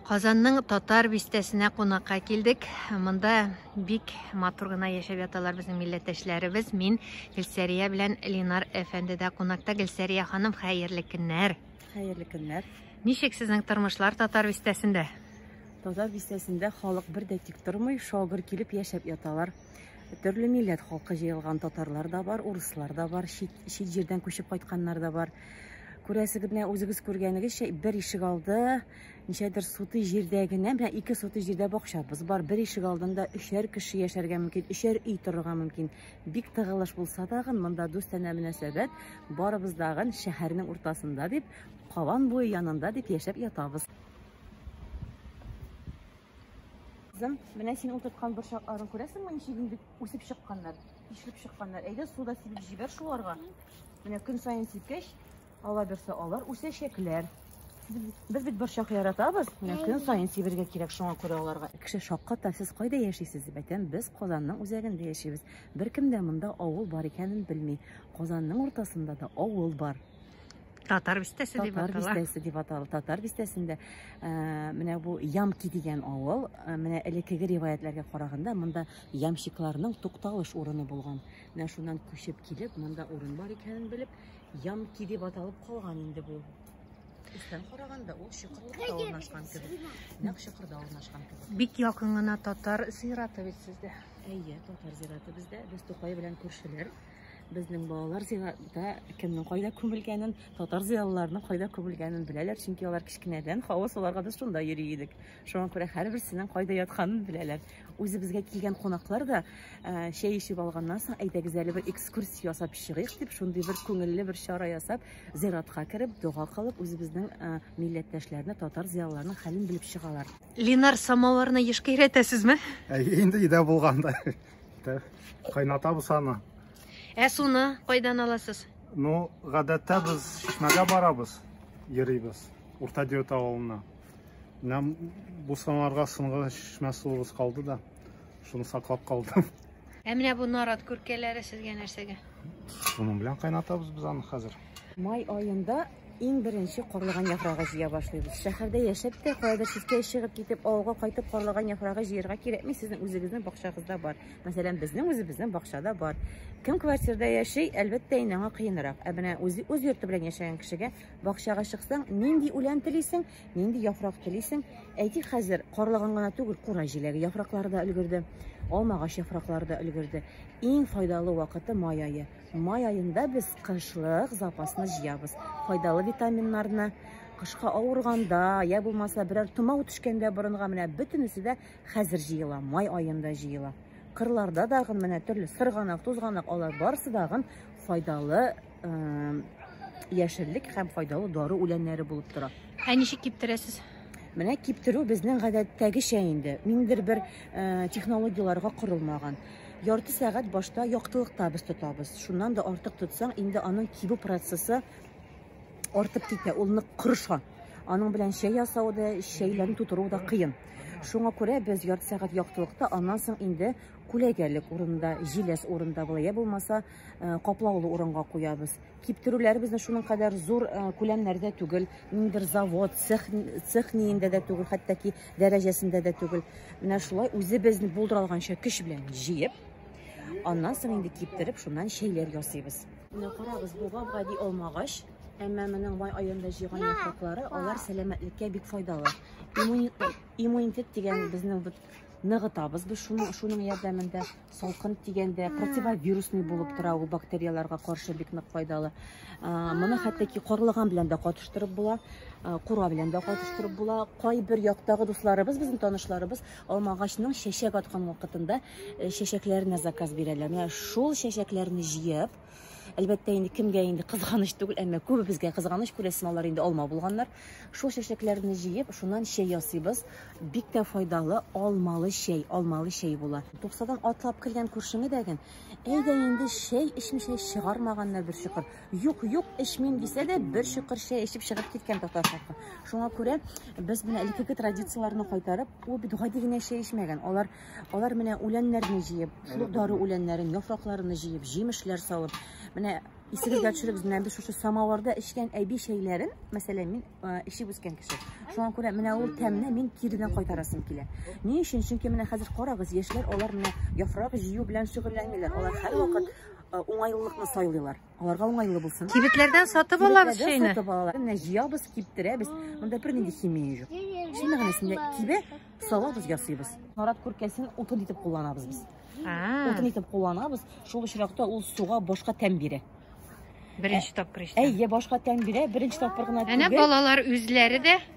Казанның татар бистәсенә кунакка килдек. Монда бик матур гына яшәп яталар безнең милләттәшләребез. Мин Гөлсәрия белән Линар әфәнде дә кунакта. Гөлсәрия ханым, хәерле көннәр. Хәерле көннәр. Ничек сезнең тормышлар татар бистәсендә? Татар бистәсендә халык бер дә тик тормый, шагыр килеп яшәп яталар. Төрле милләт халкы җыелган татарлар да бар, урыслар да бар, чит, чит җирдән күчеп кайтканнар да бар. Күрәсегезне үзегез күргәнегезчә бер ишек алды ничәдер сутый җирдә генә менә ике сутый җирдә бакчабыз бар бер ишек алдында өчәр кеше яшәргә мөмкин өчәр өй торырга мөмкин бик тыгылыш булса тагын монда дустанә мөнәсәбәт барыбыз дагын шәһәрнең уртасында дип кабан буе янында дип яшәп ятабыз Кызым, менә син утырткан борчакларын күрәсеңме, ничек инде үсеп чыкканнар, ишелеп чыкканнар. Әйдә, суда сибеп җибәр шуларга. Менә көн саен сипкәч, Алаберсе алар үсәчәкләр. Без бит борчак яратабыз, менә көн саен сибергә кирәк, шуңа күрә аларга. Кеше шакката, сез кайда яшисез? Бәтәм, без Казанның үзәгендә яшибез. Беркем дә монда авыл бар икәнен белми. Казанның уртасында да авыл бар. Татар бистәсе дип атала. Татар бистәсе дип атала. Татар бистәсендә э, менә бу Ямки дигән авыл, э, менә элеккеге риваятләргә караганда, монда ямщикларның тукталыш урыны булган. Менә шуннан күчеп килеп, монда урын бар икәнен белеп, ямки дип аталып калган инде бу. Өстән караганда ул чокырлыкта урнашкан кебек. Нәкъ чокырда урнашкан кебек. Бик якын гына татар зираты бит сездә. Әйе, татар зираты бездә. Без Тукай белән күршеләр. Безнең балалар зиратта кемнең кайда күмелгәнен, татар зиялыларының кайда күмелгәнен беләләр, чөнки алар кечкенәдән хавыз аларга без шунда йөри идек. Шуңа күрә һәрберсенең кайда ятканын беләләр. Үзебезгә килгән кунаклар да ә, чәй эчеп алганнан соң әйдәгез әле бер экскурсия ясап чыгыйк дип, шундый бер күңелле бер чара ясап, зиратка кереп, дога кылып, үзебезнең ә, милләттәшләрне, татар зыялыларының хәлен белеп чыгалар. Ленар самоварны ешка өйрәтәсезме? Әйе, инде өйдә булганда. Кайнатабыз аны. Ә суны кайдан аласыз? Ну, гадәттә без чишмәгә барабыз, йөрибез. Урта Диота авылына. Менә бу санарга сынган чишмә суыбыз калды да, шуны саклап калдым. Ә менә бу нарат күркәләре сезгә нәрсәгә? Шуның белән кайнатабыз без аны хәзер. Май аенда иң беренче карлыган яфрагы җыя башлыйбыз. Шәһәрдә яшәп тә, кайда читкә чыгып китеп, авылга кайтып карлыган яфрагы җыярга кирәкми, сезнең үзегезнең бакчагызда бар. Мәсәлән, безнең үзебезнең бакчада бар. Кем квартирда яши, әлбәттә, инде аңа кыенрак. Ә менә үз йорты белән яшәгән кешегә Бакчага чыксаң, нинди үлән телисең, нинди яфрак телисең? Әйтик, хәзер карлыган гына түгел, кура җиләге яфраклары да өлгерде, алма агач яфраклары да өлгерде. Иң файдалы вакыты май ае. Май аенда без кышлык запасны җыябыз. Файдалы витаминнарны кышка авырганда, я булмаса берәр томау төшкәндә борынга менә бөтенесе дә хәзер җыела, май аенда җыела. Кырларда дагы менә төрле сырганак, тузганак алар барысы дагы файдалы яшеллек һәм файдалы дары үләннәре булып тора. Ә ничек киптерәсез? Менә киптерү безнең гадәттәгечә инде. Ниндер бер э, технологияләргә корылмаган. Ярты сәгать башта яктылыкта без тотабыз. Шуннан да артык тотсаң, инде аның кибү процессы артып китә, ул нык кырыша. Аның белән чәй ясау да, чәйләрне тутыру да кыен. Шуңа күрә без ярты сәгать яктылыкта, аннан соң инде күләгәлек урында, җиләс урында була, я булмаса Э, каплаулы урынга куябыз киптерүләре безнең шуның кадәр зур э, күләмнәрдә түгел ниндер завод цех цех ниендә дә түгел хәтта дәрәҗәсендә дә түгел менә шулай үзебезне булдыра алганча көч белән җыеп аннан соң инде киптереп шуннан чәйләр ясыйбыз менә карагыз бу гап-гади алмагач әмма моның май аенда җыйган яфраклары алар сәламәтлеккә бик файдалы иммунитет дигән безнең ныгытабыз без шуның шуның ярдәмендә Салкын тигәндә противовирусный булып тора, ул бактерияләргә каршы бик нык файдалы. Моны хәтта ки карлыган белән дә катыштырып була, кура белән дә катыштырып була. Кайбер яктагы дусларыбыз, безнең танышларыбыз алмагачның чәчәк аткан вакытында чәчәкләренә заказ бирәләр. Менә шул чәчәкләрне җыеп, Әлбәттә, инде кемгә инде кызганыч түгел, әмма күбебезгә кызганыч күрәсем алар инде алма булганнар. Шул чәчәкләрне җыеп, шуннан чәй ясыйбыз. Бик тә файдалы алмалы чәй, алмалы чәй була. Туксадан атлап кергән күршеңе дәген, әйдә инде чәй эчмичә чыгармаганнар бер чокыр. Юк, юк, эчмим дисә дә, бер чокыр чәй эчеп чыгып киткән татар халкы. Шуңа күрә без менә элеккеге традицияләрне кайтарып, ул бит гади генә чәй эчмәгән. Алар Алар менә үләннәрне җыеп, шул дары үләннәрен, яфракларны җыеп, җимешләр салып, менә исегезгә төшерегез, менә без шушы самавырда эчкән әби чәйләрен, мәсәлән, мин э, эчеп үскән кеше. Шуңа күрә менә ул тәмне мин киренә кайтарасым килә. Ни өчен? Чөнки менә хәзер карагыз, яшьләр алар менә яфрак җыю белән шөгыльләнмиләр. Алар һәрвакыт э, уңайлылыкны сайлыйлар. Аларга уңайлы булсын. Кибетләрдән сатып алабыз чәйне. Сатып алалар. Менә җыябыз, киптерәбез. Монда бер нинди химия юк. Шул мәгънәсендә кибе салабыз, ясыйбыз. Нарат күркәсен утын итеп кулланабыз без. Утын итеп кулланабыз. Шул очракта ул суга башка тәм бирә. Беренче тапкыр эчтем. Әйе, башка тәм бирә. Беренче тапкыр гына түгел. Әнә балалар үзләре дә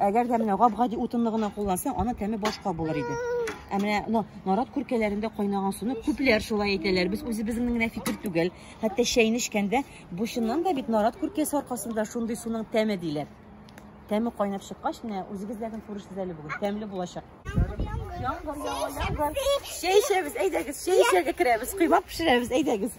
Әгәр дә менә гап-гади утынны гына куллансаң, аның тәме башка булыр иде. Ә менә ну, нарат күркәләрендә кайнаган суны күпләр шулай әйтәләр. Без үзебезнең генә фикер түгел. Хәтта чәйне эчкәндә бу чыннан да бит нарат күркәсе аркасында шундый суның тәме диләр. Тәме кайнап чыккач, менә үзегезләрдән күрерсез әле бүген. Тәмле булачак. Чәй эчәбез, әйдәгез, чәй эчәргә керәбез, коймак пешерәбез, әйдәгез.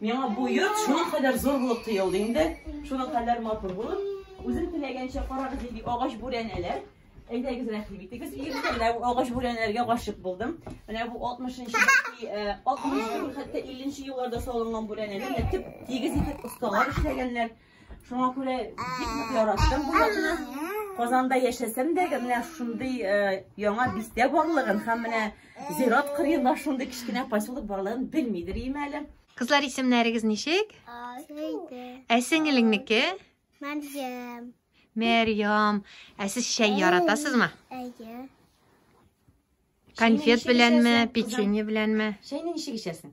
Миңа бу йорт шуның кадәр зур булып тоелды инде, шуның кадәр матур булып. Үзем теләгәнчә карагыз нинди агач бүрәнәләр. Әйдәгез рәхим итегез. Иртә менә бу агач бүрәнәләргә гашык булдым. Менә бу 60-нчы, 60 хәтта 50-нче елларда салынган бүрәнәләр. Менә төп тигез итеп осталар эшләгәннәр. Шуңа күрә бик нык яраттым бу якны. Казанда яшәсәм дә, менә шундый э, яңа бистә барлыгын һәм менә зират кырыенда шундый кечкенә поселок барлыгын белмидер ием әле. Кызлар исемнәрегез ничек? Ә сеңелеңнеке? Мәрҗәм. Мәрьям. Ә сез чәй яратасызмы? Әйе. Конфет беләнме, печенье беләнме? Чәйне ничек эчәсең?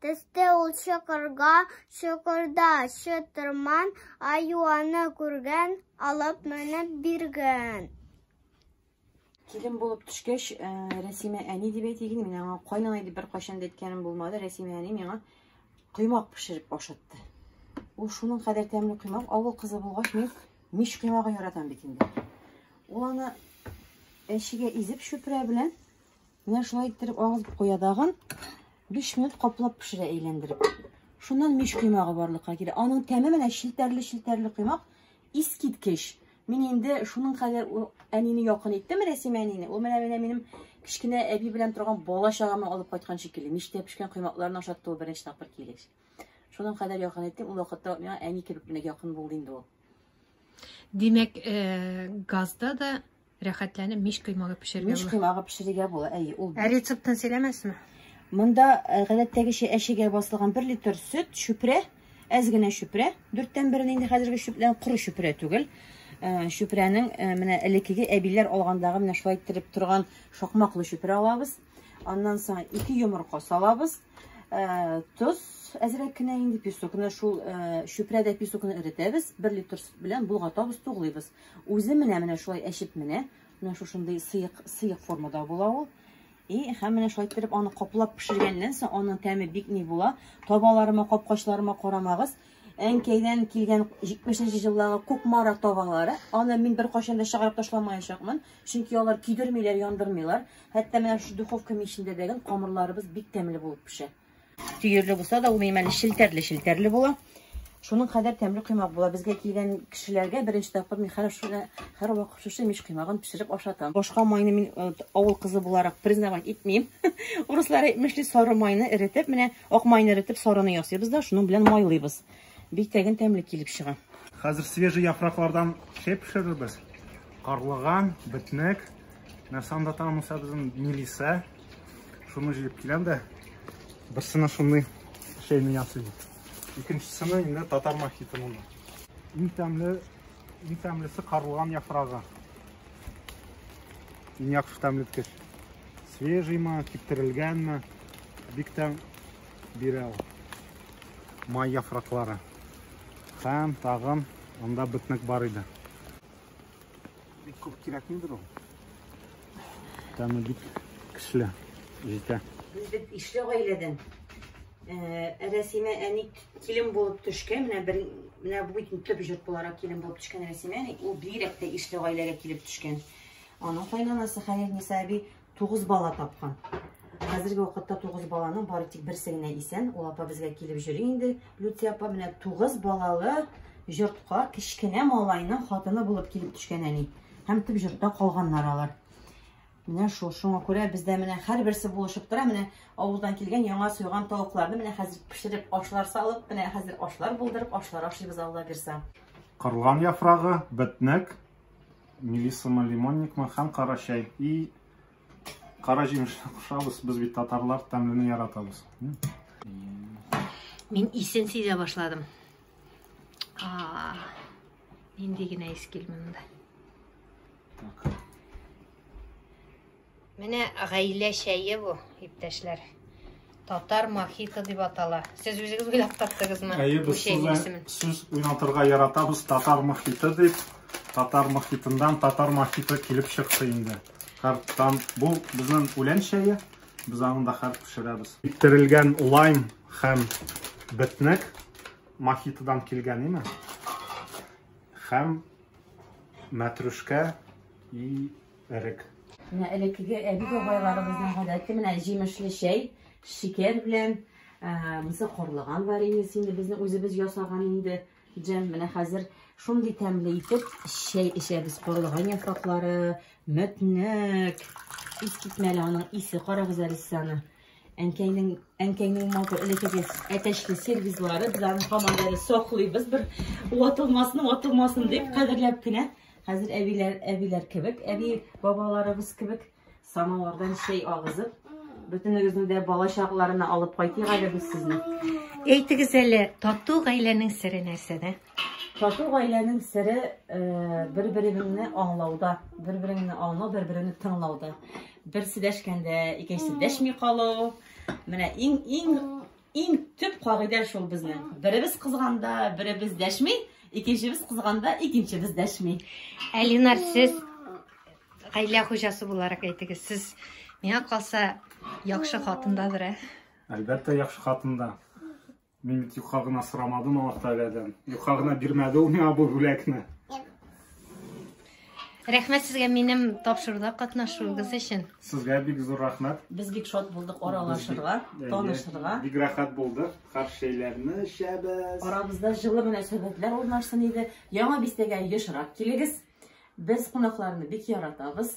Төсте ул чокырга, чокырда чытырман, аю аны күргән, алып менеп биргән. Килен булып төшкәч, э, Рәсимә әни дип әйтегез, мин аңа кайнана дип беркайчан да әйткәнем булмады. Рәсимә әни миңа коймак пешереп ашатты. Ул шуның кадәр тәмле коймак, авыл кызы булгач, мин мич коймагын яратам бит инде. Ул аны әчегә изеп чүпрә белән Менә шулай иттереп агызып куя тагын. 5 минут каплап пешерә әйләндереп. Шуннан мич коймагы барлыкка килә. Аның тәме менә челтәрле-челтәрле коймак. Искиткеч. Мин инде шуның кадәр әнине якын иттем, Рәсимә әнине. Ул менә менә минем кечкенә әби белән торган бала чагамны алып кайткан шикелле. Мичтә пешкән коймакларны ашатты ул беренче тапкыр килеш. Шуның кадәр якын иттем. Ул вакытта миңа әни кебек менә якын булды инде ул. Димәк, э, газда да Рәхәтләнеп мич коймагы пешерергә була. Мич коймагы пешерергә була, әйе, ул. Ә рецептын сөйләмәсме? Монда э, гадәттәгечә әшегә басылган 1 литр сөт, шүпрә, әз генә шүпрә, дүрттән берен инде хәзерге шүплән коры шүпрә түгел. Э, шүпрәнең э, менә элеккеге әбиләр алгандагы менә шулай иттереп торган шакмаклы шүпрә алабыз. Аннан соң ике йомырка салабыз. Тоз әзрәк кенә инде песокны шул шүпрәдә песокны эретәбез. 1 литр сөт белән болгатабыз, туглыйбыз. Үзе менә менә шулай әчеп менә, менә шушындый сыек сыек формада була ул. И, һәм менә шулай иттереп аны каплап пешергәннән соң, аның тәме бик ни була. Табаларыма, капкачларыма карамагыз. Әнкәйдән килгән 70-нче җыллагы кукмара табалары. Аны мин бер кайчан да чыгарып ташламаячакмын, чөнки алар көйдермиләр, яндырмыйлар. Хәтта менә шу духовка мичендә дә камырларыбыз бик тәмле булып пешә. Төерле булса да, ул минем әле челтәрле-челтәрле була. Шуның кадәр тәмле коймак була. Безгә килгән кешеләргә беренче тапкыр мин һәр шуны һәр вакыт шушы мич коймагын пешереп ашатам. Башка майны мин э, авыл кызы буларак признавать итмим. Урыслар әйтмешли, сары майны эретеп, менә ак майны эретеп, сарыны ясыйбыз да, шуның белән майлыйбыз. Бик тәген тәмле килеп чыга. Хәзер свежий яфраклардан чәй пешерербез. Карлыган, бетнек, нәрсә анда тагын үсә безнең милисә. Шуны җыеп киләм дә берсенә шундый чәйне ясыйм. Икенчесенә инде татар мохиты монда. Иң тәмле, иң тәмлесе карлыган яфрагы. Иң яхшы тәмлеткеч. Свежиймы, киптерелгәнме? Бик тәм бирә ул. Май яфраклары. Һәм тагын анда битник бар иде. Бик күп кирәкмидер ул. Тәме бик көчле, җитә. Без бит ишле гаиләдән. Ә Рәсимә әни килен булып төшкән, менә бер менә бу бит төп җорт буларак килен булып төшкән Рәсимә әни, ул бигрәк тә ишле гаиләгә килеп төшкән. Аның кайнанасы Хәлил Ниса әби 9 бала тапкан. Хәзерге вакытта 9 баланың бары тик берсе генә исән. Ул апа безгә килеп йөри инде. Люция апа менә 9 балалы йортка кечкенә малайның хатыны булып килеп төшкән әни. Һәм төп йортта калганнар алар. Менә шул шуңа күрә бездә менә һәрберсе булышып тора. Менә авылдан килгән яңа суйган тавыкларны менә хәзер пешереп ашлар салып, менә хәзер ашлар булдырып, ашлар ашыйбыз Алла бирса. Карлыган яфрагы, бетнек. Мелисамы, лимонникмы һәм кара чәй. И кара җимешне кушабыз, без бит татарлар тәмлене яратабыз. Мин исен сизә башладым. А, инде генә ис килмәде. Так. Менә гаилә чәе бу, иптәшләр. Татар мохито дип атала. Сез үзегез уйлап таптыгызмы? Әйе, без сүз уйнатырга яратабыз татар мохито дип. Татар мохитыннан татар мохито килеп чыкты инде. Карттан бу безнең үлән чәе. Без аны да хәр пешерәбез. Иттерелгән лайм һәм бетнек мохитодан килгән име? Һәм мәтрүшкә и Эрек. Менә элеккеге әби-бабайларыбызның гадәте менә җимешле чәй, шикәр белән, мысы карлыган вареньесы инде безнең үзебез ясаган инде. Җәм, менә хәзер шундый тәмле итеп чәй эчәбез. Карлыган яфраклары, мәтнәк. Искитмәле аның исе, карагыз әле сез әнкәйнең әнкәйнең матур элекегез әтәчле сервизлары без аны һаман әле саклыйбыз бер ватылмасын ватылмасын дип кадерләп кенә хәзер әбиләр әбиләр кебек әби бабаларыбыз кебек самавырдан чәй агызып бөтенегезне дә бала чакларына алып кайтыйк әле без сезне әйтегез әле тату гаиләнең сере нәрсәдә Тату гаиләнең сере бер-береңне аңлауда, бер-береңне аңлау, бер-береңне тыңлауда. Берсе дәшкәндә, икенчесе дәшми калу. Менә иң иң иң төп кагыйдә шул безнең. Беребез кызганда, беребез дәшми, икенчебез кызганда, икенчебез дәшми. Әлинар, сез гаилә хуҗасы буларак әйтегез, сез миңа калса яхшы хатындадыр, ә? Әлбәттә, яхшы хатында. Мин бит юка гына сорамадым Аллаһтәгаләдән. Юка гына бирмәде ул миңа бу бүләкне. Рәхмәт сезгә минем тапшыруда катнашуыгыз өчен. Сезгә бик зур рәхмәт. Без бик шат булдык аралашырга, танышырга. Бик рәхәт булды. Карт чәйләрне эчәбез. Арабызда җылы мөнәсәбәтләр урнашсын иде. Яңа бистәгә ешрак килегез. Без кунакларны бик яратабыз.